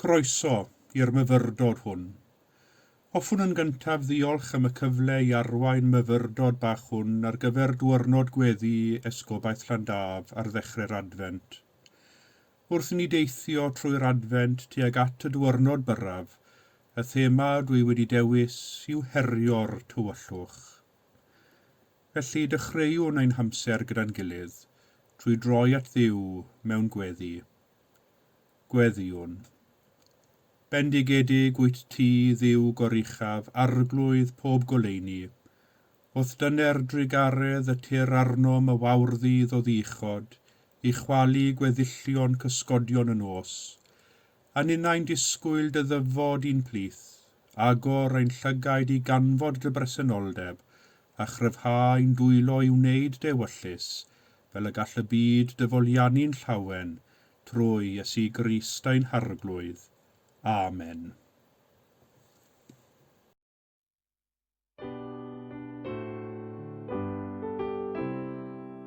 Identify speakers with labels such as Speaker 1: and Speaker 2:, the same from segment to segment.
Speaker 1: Croeso i'r myfyrdod hwn. Hoffwn yn gyntaf ddiolch am y cyfle i arwain myfyrdod bach hwn ar gyfer Dwyrnod Gweddi Esgobaeth Llandaf ar ddechre'r Adfent. Wrth i ni deithio trwy'r Adfent tuag at y Dwyrnod Byrraf, y thema dwi wedi dewis yw herio'r tywyllwch. Felly, dechreuwn ein hamser gyda'n gilydd trwy droi at Dduw mewn gweddi. Gweddïwn. Bendigedig wyt ti, Dduw goruchaf, arglwydd pob goleuni. Wrth dyner drugaredd y tir arnom y wawrddydd o ddiuchod, i chwalu gweddillion cysgodion y nos. A ninnau'n disgwyl dy ddyfod i'n plith, agor ein llygaid i ganfod dy bresenoldeb, a chryfhau'n dwylo i wneud dewyllys fel y gall y byd dy foliannu'n llawen trwy Iesu Grist ein Harglwydd. Amen.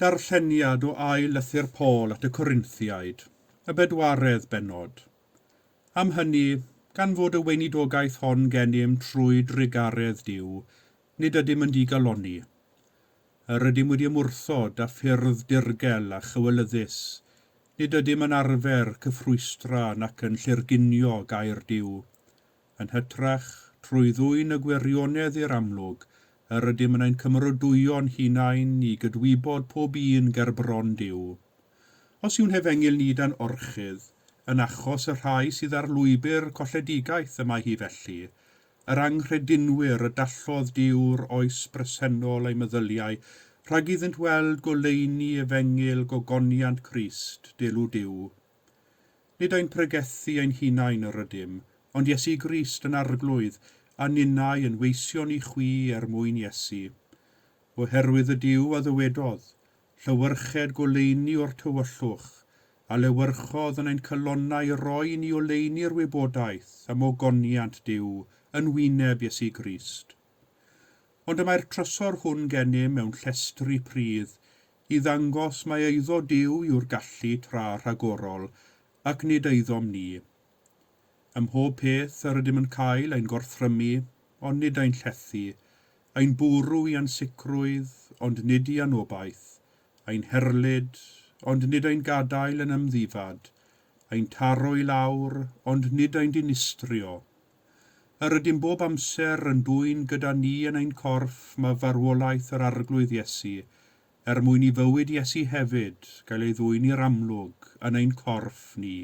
Speaker 1: Darlleniad o ail lythyr Paul at y Corinthiaid, y bedwaredd bennod. Am hynny, gan fod y weinidogaeth hon gennym trwy drugaredd Duw, nid ydym yn digalonni. Yr ydym wedi ymwrthod â ffyrdd dirgel a chywilyddus, nid ydym yn arfer cyffrwystra nac yn llirgunio gair Duw. yn hytrach, trwy ddwyn y gwirionedd i'r amlwg, yr ydym yn ein cymerodwyo'n hunain i gydwybod pob un gerbron Duw. Os yw'n hefengyl ni dan orchudd, yn achos y rhai sydd ar lwybr colledigaeth y mae hi felly, yr anghredinwyr y dallodd Duw'r oes bresennol eu meddyliau rhag iddynt weld goleuni efengyl gogoniant Crist, delw Duw, Nid ein pregethu ein hunain yr ydym, ond Iesu Grist yn Arglwydd, a ninnau yn weision i chwi er mwyn Iesu. Oherwydd y Duw a ddywedodd, Llewyrched goleuni o'r tywyllwch, a lewyrchodd yn ein calonnau i roi i ni oleuni'r wybodaeth am ogoniant Duw yn wyneb Iesu Grist. Ond y mae'r trysor hwn gennym mewn llestri pridd i ddangos mai eiddo Duw yw'r gallu tra rhagorol, ac nid eiddom ni. Ym mhob peth yr ydym yn cael ein gorthrymu, ond nid ein llethu, ein bwrw i ansicrwydd, ond nid i anobaith, ein herlid, ond nid ein gadael yn ymddifad, ein taro i lawr, ond nid ein dinistrio, Yr ydym bob amser yn dwyn gyda ni yn ein corff mae farwolaeth yr Arglwydd Iesu, er mwyn i fywyd Iesu hefyd gael ei ddwyn i'r amlwg yn ein corff ni.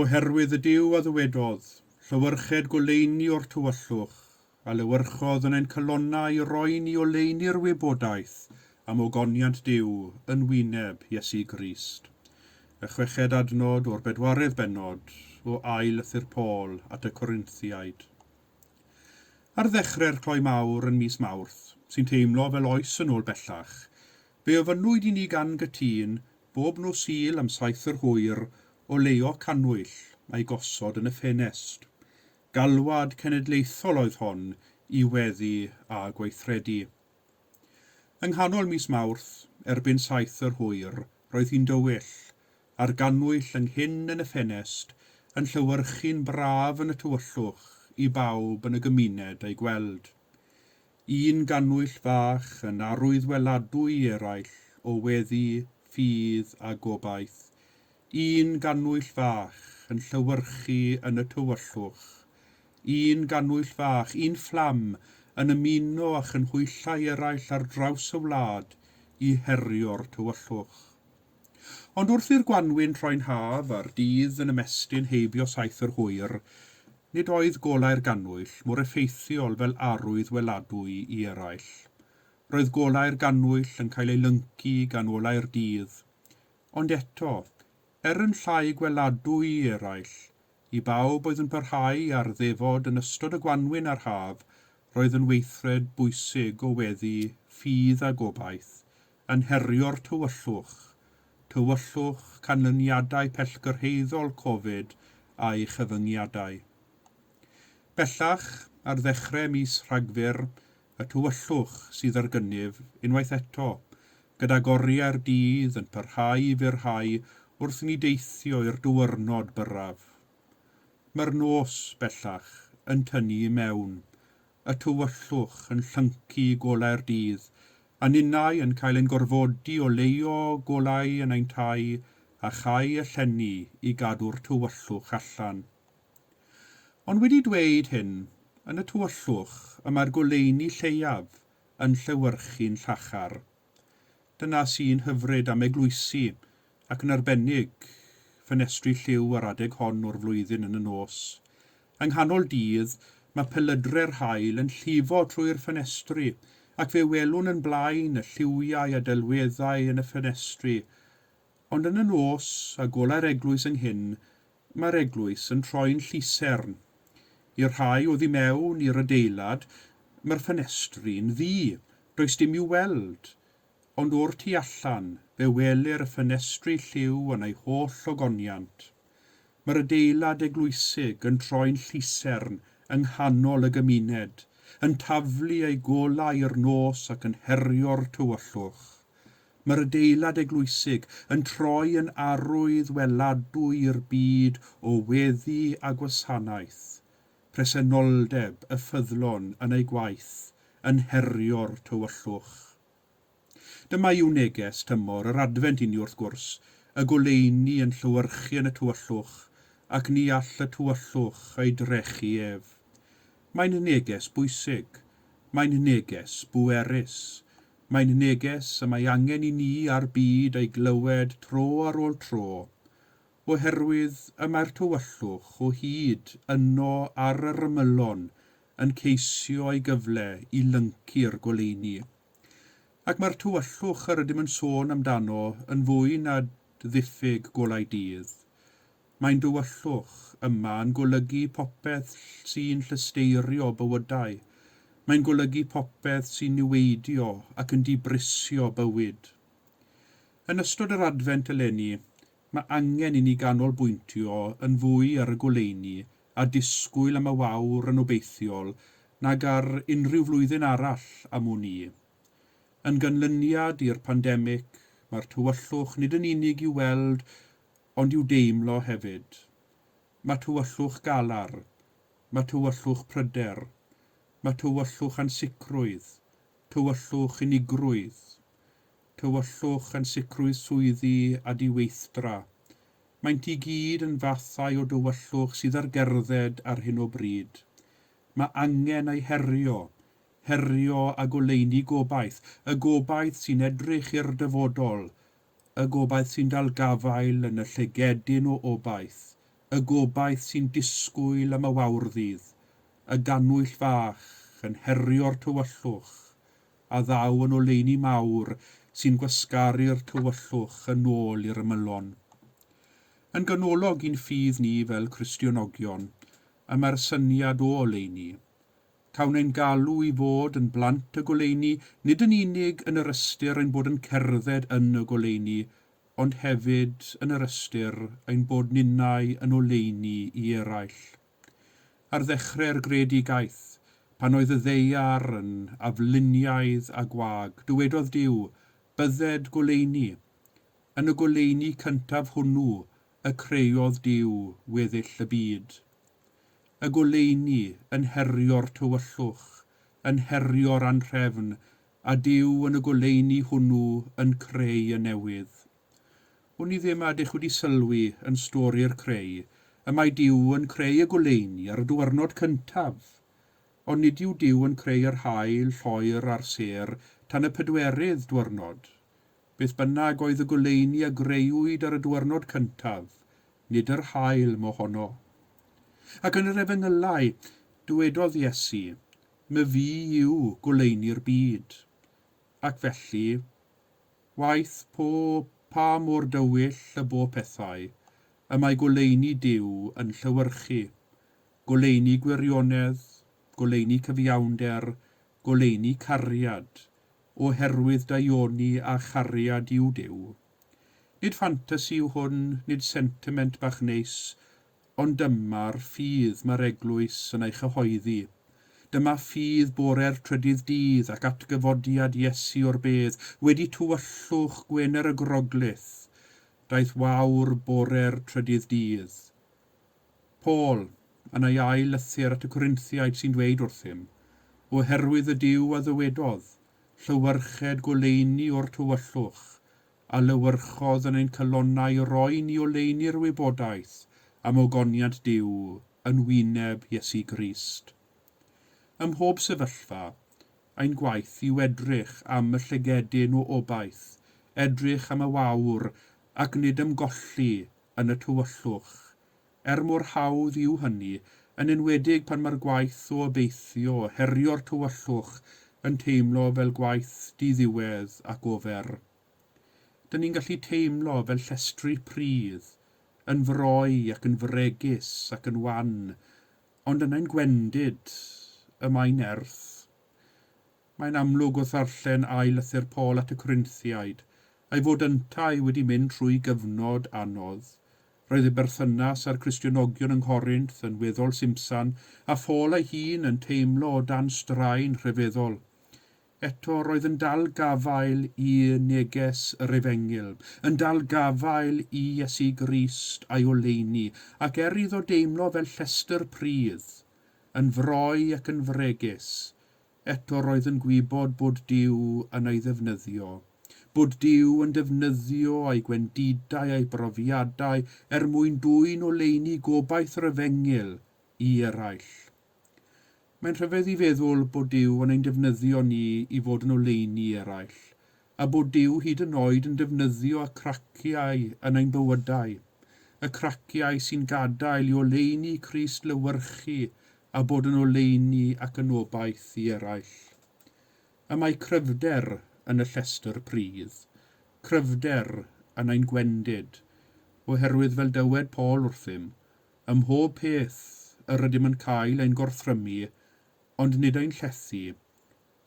Speaker 1: Oherwydd y Duw a ddywedodd, Llewyrched goleuni o'r tywyllwch, Adlewyrchodd yn ein calonnau i roi ni oleuni'r wybodaeth am ogoniant Duw yn wyneb Iesu Grist. Y chweched adnod o'r bedwaredd bennod o Ail Lythyr Paul at y Corinthiaid. Ar ddechrau'r cloi mawr yn mis Mawrth, sy'n teimlo fel oes yn ôl bellach, fe ofynnwyd i ni gan gytun bob nos Sul am saith yr hwyr oleuo cannwyll a'i gosod yn y ffenest. Galwad cenedlaethol oedd hon i weddu a gweithredu. Yng nghanol mis Mawrth, erbyn saith yr hwyr, roedd hi'n dywyll, a'r gannwyll ynghyn yn y ffenest yn llewyrchu'n braf yn y tywyllwch i bawb yn y gymuned a'i gweld. Un gannwyll fach yn arwyddweladwy i eraill o weddi, ffydd a gobaith. Un gannwyll fach yn llewyrchu yn y tywyllwch. Un gannwyll fach, un fflam, yn ymuno â chynhwyllau eraill ar draws y wlad i herio'r tywyllwch. Ond wrth i'r gwanwyn troi'n haf a'r dydd yn ymestyn heibio saith yr hwyr, nid oedd golau'r gannwyll mor effeithiol fel arwydd weladwy i eraill. Roedd golau'r gannwyll yn cael eu lyncu gan olau'r dydd. Ond eto, er yn llai gweladwy i eraill, i bawb oedd yn parhau ar ddefod yn ystod y gwanwyn a'r haf, roedd yn weithred bwysig o weddu ffydd a gobaith yn herio'r tywyllwch, tywyllwch canlyniadau pellgyrhaeddol Covid a'i chyfyngiadau. Bellach, ar ddechrau mis Rhagfyr, y tywyllwch sydd ar gynnydd unwaith eto, gydag oriau'r dydd yn parhau i fyrhau wrth i ni deithio i'r dywyrnod byrraf. Mae'r nos, bellach, yn tynnu i mewn, y tywyllwch yn llyncu i golau'r dydd, a ninnau yn cael ein gorfodi oleuo golau yn ein tai a chau y llenni i gadw'r tywyllwch allan. Ond wedi dweud hyn, yn y tywyllwch y mae'r goleuni lleiaf yn llewyrchu'n llachar. Dyna sy'n hyfryd am eglwysi, ac yn arbennig, ffenestri lliw ar adeg hon o'r flwyddyn yn y nos. Yng nghanol dydd, mae pelydre'r haul yn llifo trwy'r ffenestri, ac fe welwn yn blaen y lliwiau a delweddau yn y ffenestri, Ond yn y nos, a golai'r eglwys ynghyn, mae'r eglwys yn troi'n llusern. I'r rhai oddi mewn i'r adeilad, mae'r ffenestri'n ddu, does dim i'w weld. Ond o'r tu allan, fe welir y ffenestri lliw yn eu holl ogoniant. Mae'r adeilad eglwysig yn troi'n llusern yng nghanol y gymuned, yn taflu ei golau i'r nos ac yn herio'r tywyllwch. Mae'r adeilad eglwysig yn troi yn arwydd weladwy i'r byd o weddi a gwasanaeth, presenoldeb y ffyddlon yn eu gwaith, yn herio'r tywyllwch. Dyma yw neges tymor yr Adfent inni wrth gwrs, y goleuni yn llewyrchu yn y tywyllwch, ac ni all y tywyllwch ei drechu ef. Mae'n neges bwysig. Mae'n neges bwerus. Mae'n neges y mae angen i ni a'r byd ei glywed tro ar ôl tro, oherwydd y mae'r tywyllwch o hyd yno ar yr ymylon yn ceisio ei gyfle i lyncu'r goleuni. Ac mae'r tywyllwch yr ydym yn sôn amdano yn fwy na ddiffyg golau dydd. Mae'n dywyllwch, yma, yn golygu popeth sy'n llysteirio bywydau. Mae'n golygu popeth sy'n niweidio ac yn dibrisio bywyd. Yn ystod yr Adfent eleni, mae angen i ni ganolbwyntio yn fwy ar y goleuni a disgwyl am y wawr yn obeithiol nag ar unrhyw flwyddyn arall am wn i. Yn ganlyniad i'r pandemig, mae'r tywyllwch nid yn unig i'w weld ond i'w deimlo hefyd. Mae tywyllwch galar, mae tywyllwch pryder, mae tywyllwch ansicrwydd, tywyllwch unigrwydd. tywyllwch, ansicrwydd swyddi a diweithdra. Maent i gyd yn fathau o dywyllwch sydd ar gerdded ar hyn o bryd. Mae angen eu herio, herio a goleuni gobaith, y gobaith sy'n edrych i'r dyfodol, y gobaith sy'n dal gafael yn y llygedyn o obaith, y gobaith sy'n disgwyl am y wawrddydd, y gannwyll fach yn herio'r tywyllwch, a ddaw yn oleuni mawr sy'n gwasgaru'r tywyllwch yn ôl i'r ymylon. Yn ganolog i'n ffydd ni fel Cristionogion y mae'r syniad o oleuni. Cawn ein galw i fod yn blant y goleuni nid yn unig yn yr ystyr ein bod yn cerdded yn y goleuni, ond hefyd yn yr ystyr ein bod ninnau yn oleuni i eraill. Ar ddechre'r greadigaeth, pan oedd y ddaear yn afluniaidd a gwag, dywedodd Duw, Bydded goleuni. Yn y goleuni cyntaf hwnnw y creodd Duw weddill y byd. Y goleuni yn herio'r tywyllwch, yn herio'r anhrefn, a Duw yn y goleuni hwnnw yn creu y newydd. Wn i ddim a ydych wedi sylwi yn stori'r creu y mae Duw yn creu y goleuni ar y dwyrnod cyntaf, ond nid yw Duw yn creu yr haul, lloer a'r sêr tan y pedwerydd dwyrnod. Beth bynnag oedd y goleuni a greuwyd ar y dwyrnod cyntaf, nid yr haul mohono. Ac yn yr Efengylau, dywedodd Iesu, My Fi yw goleuni'r byd. Ac felly, Waeth po pa mor dywyll y bo pethau, y mae goleuni Duw yn llewyrchu, goleuni gwirionedd, goleuni cyfiawnder, goleuni cariad, o herwydd daioni a chariad yw Duw. Nid ffantasi yw hwn, nid sentiment bach neis, Ond dyma'r ffydd mae'r Eglwys yn ei chyhoeddi. Dyma ffydd bore'r trydydd dydd ac atgyfodiad Iesu o'r bedd, wedi tywyllwch Gwener y Groglith, daeth wawr bore'r trydydd dydd. Paul, yn ei ail lythyr at y Corinthiaid sy'n dweud wrthym, Oherwydd y Duw a ddywedodd, Llewyrched goleuni o'r tywyllwch, Adlewyrchodd yn ein calonnau roi ni oleuni'r wybodaeth am ogoniant Duw yn wyneb Iesu Grist. Ym mhob sefyllfa, ein gwaith yw edrych am y llygedyn o obaith, edrych am y wawr ac nid ymgolli yn y tywyllwch, er mor hawdd yw hynny, yn enwedig pan mae'r gwaith o obeithio herio'r tywyllwch yn teimlo fel gwaith di-ddiwedd ac ofer. Dyn ni'n gallu teimlo fel llestri pridd, yn froi ac yn fregus ac yn wan, ond yna i'n gwendid, y mae nerth. Mae'n amlwg wrth ddarllen ail lythyr Paul at y Corinthiaid, ei fod yntau wedi mynd trwy gyfnod anodd, Roedd ei berthynas â'r Cristionogion yng Nghorinth yn weddol simsan, a Phôl ei hun yn teimlo o dan straen rhyfeddol. Eto, roedd yn dal gafael i neges yr Efengyl, yn dal gafael i Iesu Grist a'i oleuni, ac er iddo deimlo fel llestr pridd, yn froi ac yn fregus, Eto roedd yn gwybod bod Duw yn ei ddefnyddio, bod Duw yn defnyddio ei gwendidau a'i brofiadau er mwyn dwyn oleuni gobaith yr efengyl i eraill. Mae'n rhyfedd i feddwl bod Duw yn ein defnyddio ni i fod yn oleuni i eraill, a bod Duw hyd yn oed yn defnyddio y craciau yn ein bywydau, y craciau sy'n gadael i oleuni Crist lywyrchu a bod yn oleuni ac yn obaith i eraill. Y mae cryfder yn y llestr pridd, cryfder yn ein gwendid, oherwydd fel dywed Paul wrthym, ym mhob peth yr ydym yn cael ein gorthrymu, ond nid ein llethu,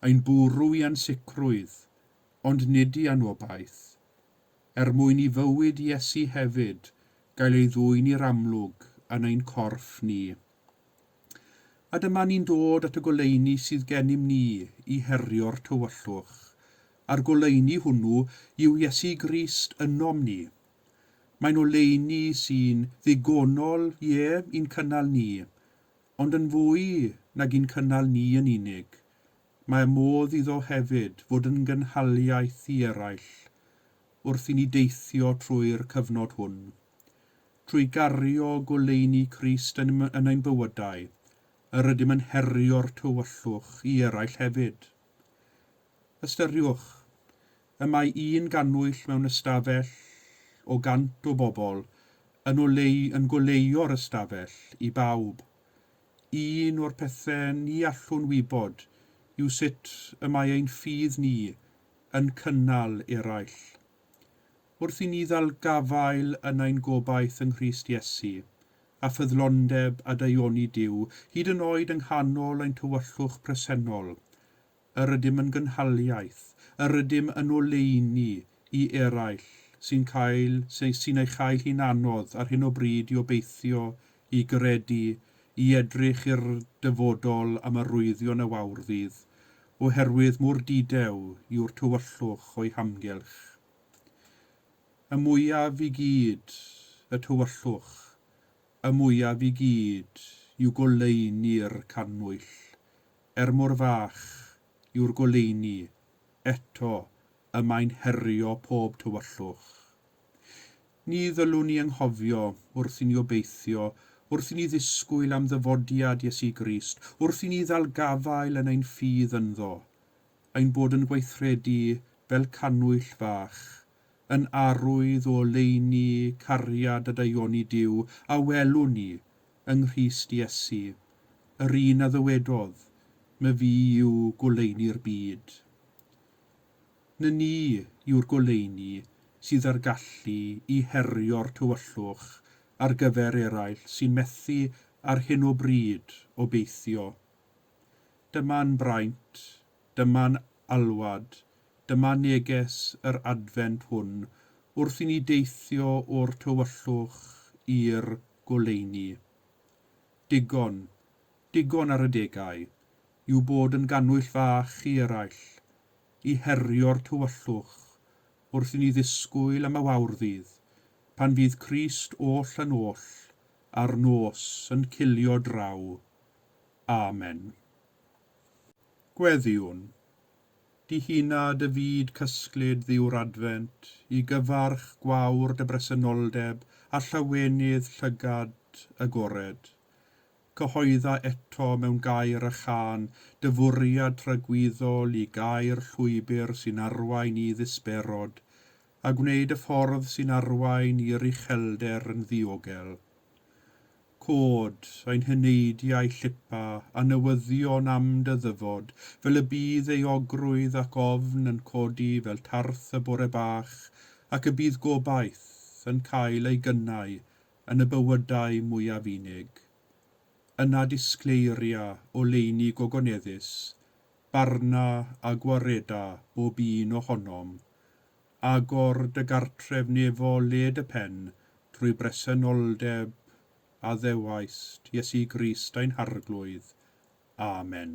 Speaker 1: Ein bwrw i ansicrwydd, ond nid i anobaith, er mwyn i fywyd Iesu hefyd gael ei ddwyn i'r amlwg yn ein corff ni. A dyma ni'n dod at y goleuni sydd gennym ni i herio'r tywyllwch, a'r goleuni hwnnw yw Iesu Grist ynom ni. Mae'n oleuni sy'n ddigonol, ie, i'n cynnal ni, ond yn fwy nag i'n cynnal ni yn unig, mae modd iddo hefyd fod yn gynhaliaeth i eraill wrth i ni deithio trwy'r cyfnod hwn. Trwy gario goleuni Crist yn yn ein bywydau, yr ydym yn herio'r tywyllwch i eraill hefyd. Ystyriwch, Y mae un gannwyll mewn ystafell o gant o bobl yn o leu yn goleuo'r ystafell i bawb. Un o'r pethe ni allwn wybod yw sut y mae ein ffydd ni yn cynnal eraill. Wrth i ni ddal gafael yn ein gobaith yng Nghrist Iesu, a ffyddlondeb a daioni Duw, hyd yn oed yng nghanol ein tywyllwch presennol, yr ydym yn gynhaliaeth, yr ydym yn oleuni i eraill sy'n cael, sy'n ei chael hi'n anodd ar hyn o bryd i obeithio, i gredu, i edrych i'r dyfodol am arwyddion a wawr ddydd, oherwydd mor didew yw'r tywyllwch o'i hamgylch. Y mwyaf i gyd y tywyllwch, y mwyaf i gyd yw goleuni'r cannwyll, er mor fach yw'r goleuni, eto y mae'n herio pob tywyllwch. Ni ddylwn i anghofio, wrth i ni obeithio, wrth i ni ddisgwyl am ddyfodiad Iesu Grist, wrth i ni ddal gafael yn ein ffydd ynddo, ein bod yn gweithredu fel cannwyll fach yn arwydd o oleuni cariad a daioni Duw a welwn ni yng Nghrist Iesu, yr un a ddywedodd, My Fu yw goleuni'r byd. Ny Ni yw'r goleuni sydd â'r gallu i herio'r tywyllwch ar gyfer eraill sy'n methu ar hyn o bryd obeithio. Dyma'n braint Dyma'n alwad, dyma neges yr Adfent hwn wrth i ni deithio o'r tywyllwch i'r goleuni. Digon, digon ar y degau, i'w bod yn gannwyll fach i eraill, i herio'r tywyllwch, wrth i ni ddisgwyl am y wawr ddydd, pan fydd Crist oll yn oll a'r nos yn cilio draw. Amen. Gweddïwn, dihuna dy fyd cysglyd dduw'r Adfent, i gyfarch gwawr dy bresenoldeb a llawenydd llygad agored. Cyhoedda eto mewn gair a chân dy fwriad tragwyddol i gau'r llwybr sy'n arwain i ddisberod, a gwneud y ffordd sy'n arwain i'r uchelder yn ddiogel. Cod, ein heneidiau llipa, a newyddion am dy ddyfod, fel y bydd euogrwydd ac ofn yn codi fel tarth y bore bach, ac y bydd gobaith yn cael ei gynnau yn y bywydau mwyaf unig. Yna disgleiria oleuni gogoneddus, barna a gwareda bob un ohonom, Agor dy gartref nefo led y pen trwy bresenoldeb a ddewaist Iesu Grist ein Harglwydd. Amen.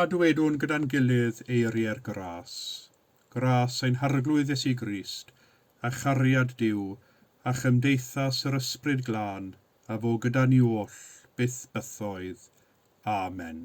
Speaker 1: A dywedwn gyda'n gilydd eiriau'r gras, gras ein Harglwydd Iesu Grist, a chariad Duw, a chymdeithas yr Ysbryd Glân, a fo gyda ni oll, byth bythoedd. Amen.